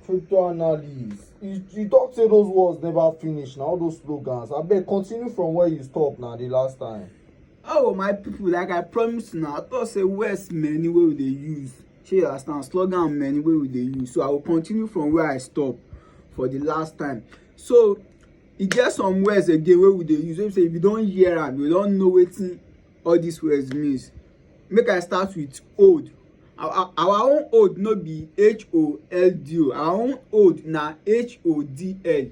Crypto analyst. You, you talk say those words never finish now, all those slogans. I beg continue from where you stop now the last time. Oh my people, like I promised now, I thought say words many way they use. Shey you understand slogan many way we dey use. So I will continue from where I stop for the last time. So e get some words again wey we dey use wey be say if you don hear am you don know wetin all dis words means. Make I start with old. Our our own old no be H-O-L-D o. Our own old na H-O-D-L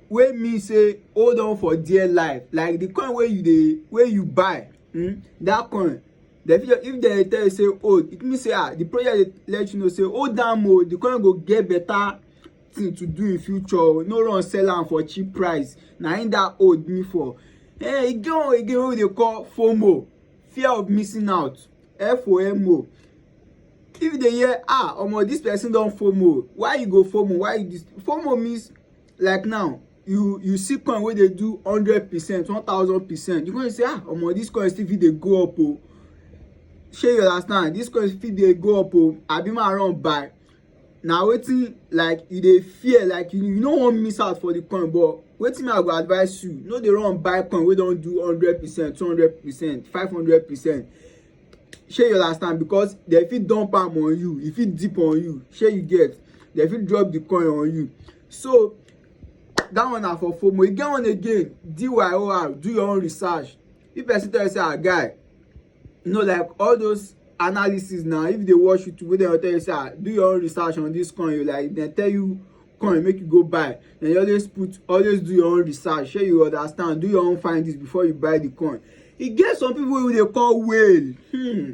wey mean sey hold on for dear life. Like the coin wey you dey wey you buy um dat coin de fit if de tell you sey hold, it mean sey um the project dey let you know sey hold am o. The coin go get better thing to do in future o no run sell am for cheap price na im that old me for eh e get one again wey we dey call fomo fear of missing out fomo if you dey hear ah omo this person don fomo why you go fomo why you this fomo means like now you you see coin wey dey do hundred percent one thousand percent you go say ah omo this coin still fit dey go up o shey you understand this coin fit dey go up o abi ma run buy na wetin like you dey fear like you, you no wan miss out for the coin but wetin i go advise you no dey run buy coin wey don do hundred percent two hundred percent five hundred percent shey you understand because dem fit dump am on you e fit dip on you shey you get dem fit drop the coin on you so that one na for fomo e get one again dyor do your own research if person tell you say ah guy you know like all those analysis now if you dey watch youtube wey dem tell you say ah do your own research on this coin you like dem tell you coin make you go buy then you always put always do your own research shey you understand do your own findings before you buy the coin e get some people wey dey call whale hmm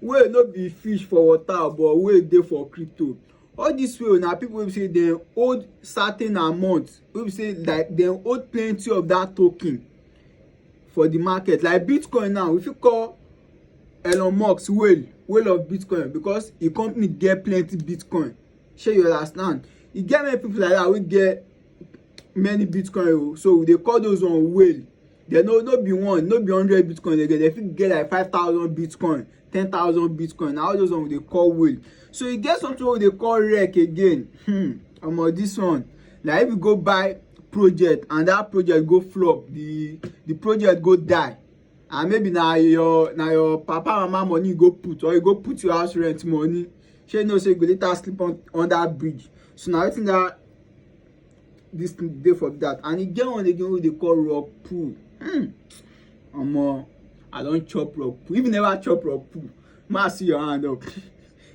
whale no be fish for water but whale dey for crypto all this whale na people wey be say dem hold certain amount wey be say like dem hold plenty of that token for the market like bitcoin now we fit call elon musk whale whale of bitcoin because e company get plenty bitcoin shey you understand e get many people like that wey get many bitcoin o oh. so we dey call those one whale dem no no be one no be hundred bitcoin dem get dem fit get like five thousand bitcoin ten thousand bitcoin na all those one we dey call whale so e get something wey we dey call rec again hmm omo this one na if you go buy project and that project go flop the the project go die and maybe na your na your papa mama money you go put or you go put your house rent money shey you know say you go later sleep on under bridge so na wetin that this day for that and e get one again wey dey call rock pool hmm. omo i don chop rock pool if you never chop rock pool ma see your hand up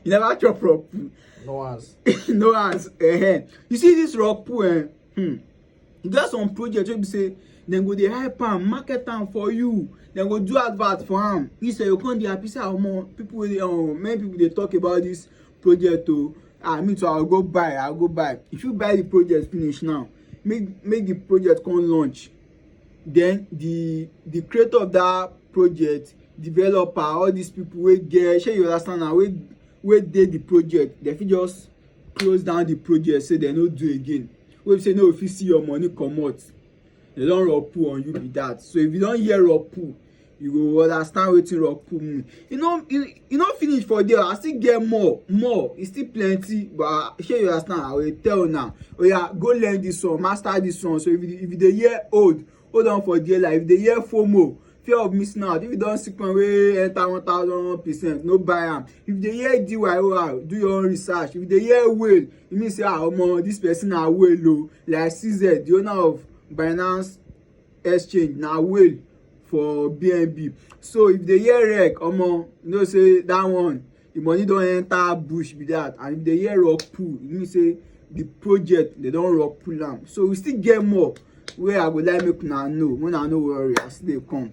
you never chop rock pool no hands no hands uh eh, -huh. Eh. you see this rock pool eh hmm. e get some project wey be say dem go dey hype am market am for you dem go do advert for am you sef you come dey happy say omo ah, people wey dey um, many people dey talk about this project o ah me too i go buy i go buy if you buy the project finish now make make the project come launch then the the creator of that project developer all these people wey get shey you understand na wey wey dey the project dem fit just close down the project say dem no do again wey be say no go fit see your money comot dem don rapu on you be that so if you don hear rapu you go understand wetin roku mean e no e no finish for there i still get more more e still plenty but shey you understand i will tell now oya go learn this one master this one so if you if you dey hear old hold on for dear life if you dey hear fomo fear of missing out if you don see coin wey enter one thousand percent no buy am if you dey hear dyor do your own research if you dey hear whale e mean say ah omo this person na whale o like cz the owner of binance exchange na whale for bnb so if you dey hear wreck omo you know say that one the money don enter bush be that and if you dey hear rock pull e mean say the project they don rock pull am so we still get more wey i go like make una know make una no worry i still dey come.